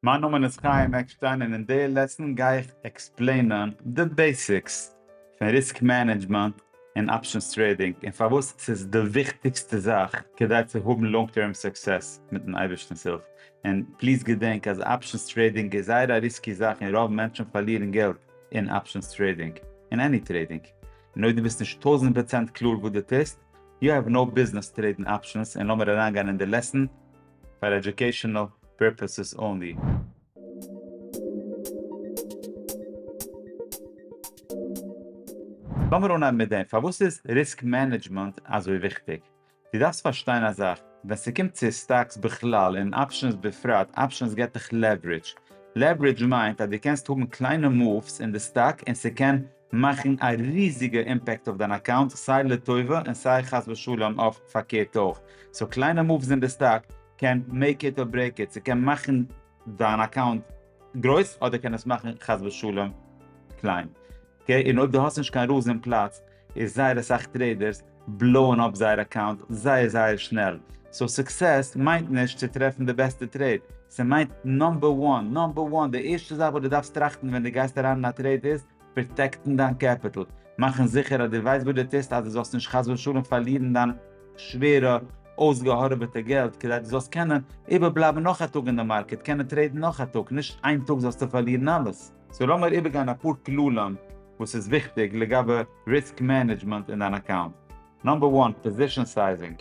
מיין נאמען איז חיים עקשטיין און אין די לעסן גיי איך עקספלעינען די בעסיקס פון ריסק מענעדזשמענט און אפשענס טרעידינג און פארוואס ס'איז די וויכטיגסטע זאך כדי צו האבן לאנג טערם סוקסעס מיטן אייבערשטנ'ס הילף און פליז געדענק אז אפשענס טרעידינג איז זייער א ריסקי זאך און רוב מענטשן פארלירן געלט אין אפשענס טרעידינג און עני טרעידינג און אויב דו ביסט נישט טויזענט פראצענט קלאר וואס דו טוסט יו העוו נאו ביזנעס טרעידן אפשענס און לאמיר אריינגיין אין די לעסן פאר עדיוקעישאנעל פירפעסעס אנלי. לאמיר אנהייבן מיט דעם, פארוואס איז ריסק מענעדזשמענט אזוי וויכטיג? דו דארפסט פארשטיין א זאך, ווען ס'קומט צו סטאקס בכלל און אפשענס בפרט, אפשענס געט דיך לעווערידזש. לעווערידזש מיינט אז דו קענסט האבן קליינע מאווס אין די סטאק און ס'קען מאכן א ריזיגע אימפעקט אויף דיין אקאונט סיי לטובה און סיי חס ושלום אויף פארקערט אויך, סאו קליינע מאווס אין די סטאק קען מעיק איט אר ברעיק איט, ס'קען מאכן דיין אקאונט גרויס אדער קען עס מאכן חס ושלום קליין, אקעי, און אויב די האסט נישט קיין רולס אין פלאץ איז זייער אסאך טרעידערס בלאוען אפ זייער אקאונט זייער זייער שנעל, סאו סוקסעס מיינט נישט צו טרעפן די בעסטע טרעיד, ס'מיינט נאמבער וואן, נאמבער וואן, די ערשטע זאך וואס דו דארפסט טראכטן ווען דו גייסט אריין אין א טרעיד איז, פראטעקטן דיין קעפיטל, מאכן זיכער אז דו ווייסט וואס דו טוסט אז דו זאלסט נישט חס ושלום פארלירן דיין שווערע אויסגעהארעוועטע געלט, כדי דו זאלסט קענען איבערבלייבן נאך א טאג אין די מארקעט, קענען טרעידן נאך א טאג, נישט איין טאג זאלסטו פארלירן אלעס. סאו לאמיר איבערגיין אפאר כללים וואס איז וויכטיג לגבי ריסק מענעדזשמענט אין דיין אקאונט. נאמבער וואן, פאזישאן סייזינג.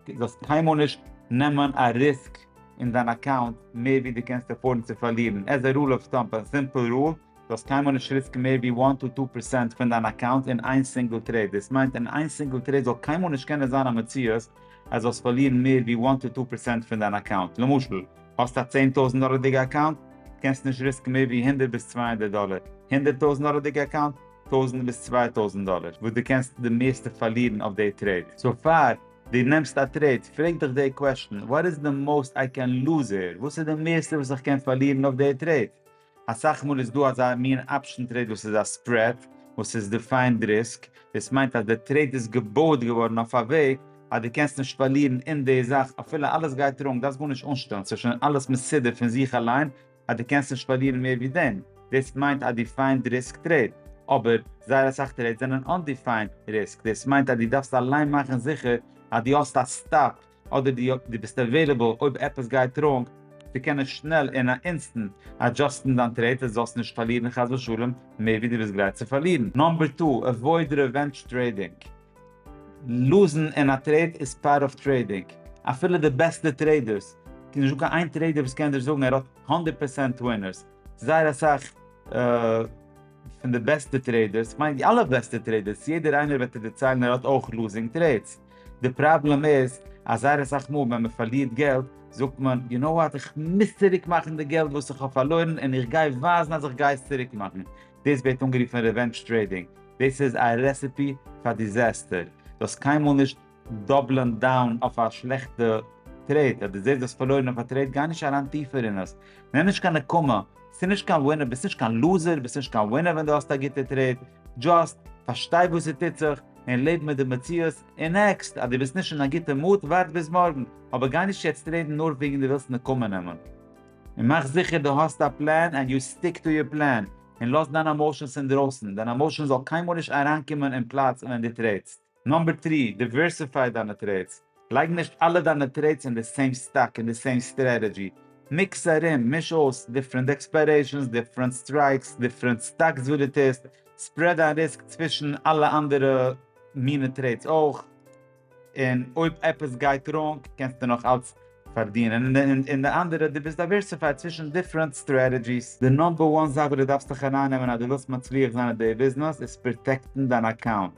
דו זאלסט קיינמאל נישט נעמען א ריסק אין דיין אקאונט מער ווי דו קענסט עפארדן צו פארלירן. עז א רול אוו טאמב, א סימפל רול, דו זאלסט קיינמאל נישט ריסקן מער ווי וואן טו טו פערסענט פון דיין אקאונט אין איין סינגל טרעיד. דאס מיינט אין איין סינגל טרעיד זאל קיינמאל נישט קענען זיין א מציאות אז זאלסט פארלירן מער ווי וואן טו טו פערסענט פון דיין אקאונט. למשל. האסט א צען טויזענט דאלערדיגע אקאונט? קענסט נישט ריסקן מער ווי הונדערט ביז צוויי הונדערט דאלער. הונדערט טויזענט דאלערדיגע אקאונט? טויזענט ביז צוויי טויזענט דאלער וואס דו קענסט די מערסטע פארלירן אויף די טרעיד. סאו פאר דו נעמסט א טרעיד, פרעג דיך די קוועשטן, וואט איז די מאוסט איי קען לוז העיר? וואס איז די מערסטע וואס איך קען פארלירן אויף די טרעיד? אסאך מאל איז דא אזא מין אפשן טרעיד וואס איז א ספרעד וואס איז דיפיינד ריסק, דאס מיינט אז די טרעיד איז געבויעט געווארן אויף א וועג אז דו קענסט נישט פארלירן אין די זאך אפילו אלעס גייט ראנג, דארפסט גארנישט אנשטעלן, ס'איז שוין אלעס מסודר פון זיך אליין אז דו קענסט נישט פארלירן מער ווי דעם, דאס מיינט א דיפיינד ריסק טרעיד, אבער זייער אסאך טרעידס זענען אנדיפיינד ריסק, דאס מיינט אז דו דארפסט אליין מאכן זיכער אז דו האסט א סטאפ אדער דו ביסט עוועילעבל אויב עפעס גייט ראנג צו קענען שנעל אין א אינסטענט אדזשאסטן דיין טרעיד אז זאלסט נישט פארלירן חס ושלום מער ווי דו ביסט גרייט צו פארלירן. נאמבער טו, עוואויד רעווענדזש טרעידינג. לוזן אין א טרעיד איז פארט אוו טרעידינג. אפילו די בעסטע טרעידערס, ס'איז נישטא קיין איין טרעידער וואס קען דיר זאגן ער האט הונדערט פערצענט ווינערס. זייער אסאך פון די בעסטע טרעידערס, כ'מיין אלע בעסטע טרעידערס, יעדער איינער וועט דיר דערציילן ער האט אויך לוזינג טרעידס. די פראבלעם איז אז זייער אסאך מאל ווען מען פארלירט געלט זאגט מען יו נאו וואט איך מוז צוריק מאכן די געלט וואס איך האב פארלוירן און איך גיי ווייזן אז איך גיי עס צוריק מאכן, דאס ווערט אנגערופן רעווענדזש טרעידינג, דאס איז א רעסעפי פאר דיזעסטער, דו האסט קיינמאל נישט דאבלען דאון אויף א שלעכטע טרעיד, אז דו זעסט דו האסט פארלוירן אויף א טרעיד גיי נישט אריין טיפער אין עס, נעם נישט קיין נקמה, ס'איז נישט קיין ווינער, ביסט נישט קיין לוזער, ביסט נישט קיין ווינער ווען דו האסט א גוטע טרעיד, דזשאסט פארשטיי וואס ס'טוט זיך, און לעב מיט די מציאות, און עקסט אז דו ביסט נישט אין א גוטע מוט, ווארט ביז מארגן, אבער גיי נישט יעצט רעדן נאר וועגן דו ווילסט נקמה נעמען. און מאך זיכער דו האסט א פלאן ענד יו סטיק טו יור פלאן, און לאז דיינע עמאושענס אינדרויסן, דיין עמאושען זאל קיינמאל נישט אריינקומען אין פלאץ ווען דו טרעטסט. נאמבער טרי, דיווערסיפיי דיינע טרעטס. לייג נישט אלע דיינע טרעידס אין די סעים סטאק אין די סעים סטרעטעדזשי, מיקס ארום, מיש אויס, דיפרענט עקספיירעישאנס, דיפרענט סטרייקס, דיפרענט סטאקס וואס דו טוסט, ספרעד דיין ריסק צווישן אלע אנדערע מינע טרעידס אויך, און אויב עפעס גייט ראנג קענסטו נאך אלץ פארדינען, און די אנדערע דו ביסט דייווערסיפייד צווישן דיפרענט סטרעטעדזשיס. די נאמבער וואן זאך וואס דו דארפסט זיך ארייננעמען אז דו זאלסט מצליח זיין אין די ביזנעס איז פראטעקטן דיין אקאונט,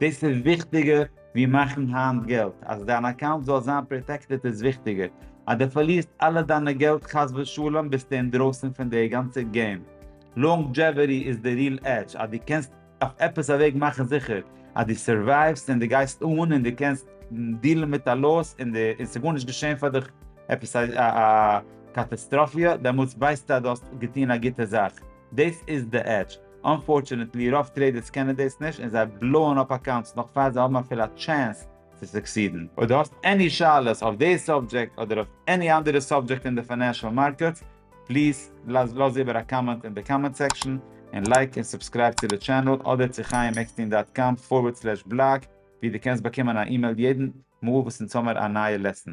דאס איז וויכטיגער ווי מאכן היינט געלט, אז דיין אקאונט זאל זיין פראטעקטעד איז וויכטיגער, אז דו פארלירסט אלע דיינע געלט חס ושלום ביסטו אינדרויסן פון די גאנצע געים, לאנגדזשעוועטי איז די ריעל עדזש, אז דו קענסט אויף עפעס א וועג מאכן זיכער אז דו סורווייוו'סט און דו גייסט אן און דו קענסט דיעלן מיט א לאס און ס'גארנישט געשען פאר דיך עפעס א קאטאסטראפיע, דעמאלטס ווייסטו אז דו האסט געטון א גוטע זאך, דאס איז די עדזש. אנפארטשענעטלי רוב טרעידערס קענען דאס נישט און זיי בלאוען אפ אקאונטס נאך פאר זיי האבן אפילו א טשענס צו סוקסידן. אויב דו האסט עני שאלות אויף די סאבדזשעקט אדער אויף עני אנדערע סאבדזשעקט אין די פיינענשעל מארקעטס, פליז לאז איבער א קאמענט אין די קאמענט סעקשאן, און לייק און סובסקרייב צו די טשענעל אדער צו חיים עקסטין דאט קאם פארווערד סלעש בלאג ווי דו קענסט באקומען א אימעיל יעדן מאל וואס אונז האמער א נייע לעסן.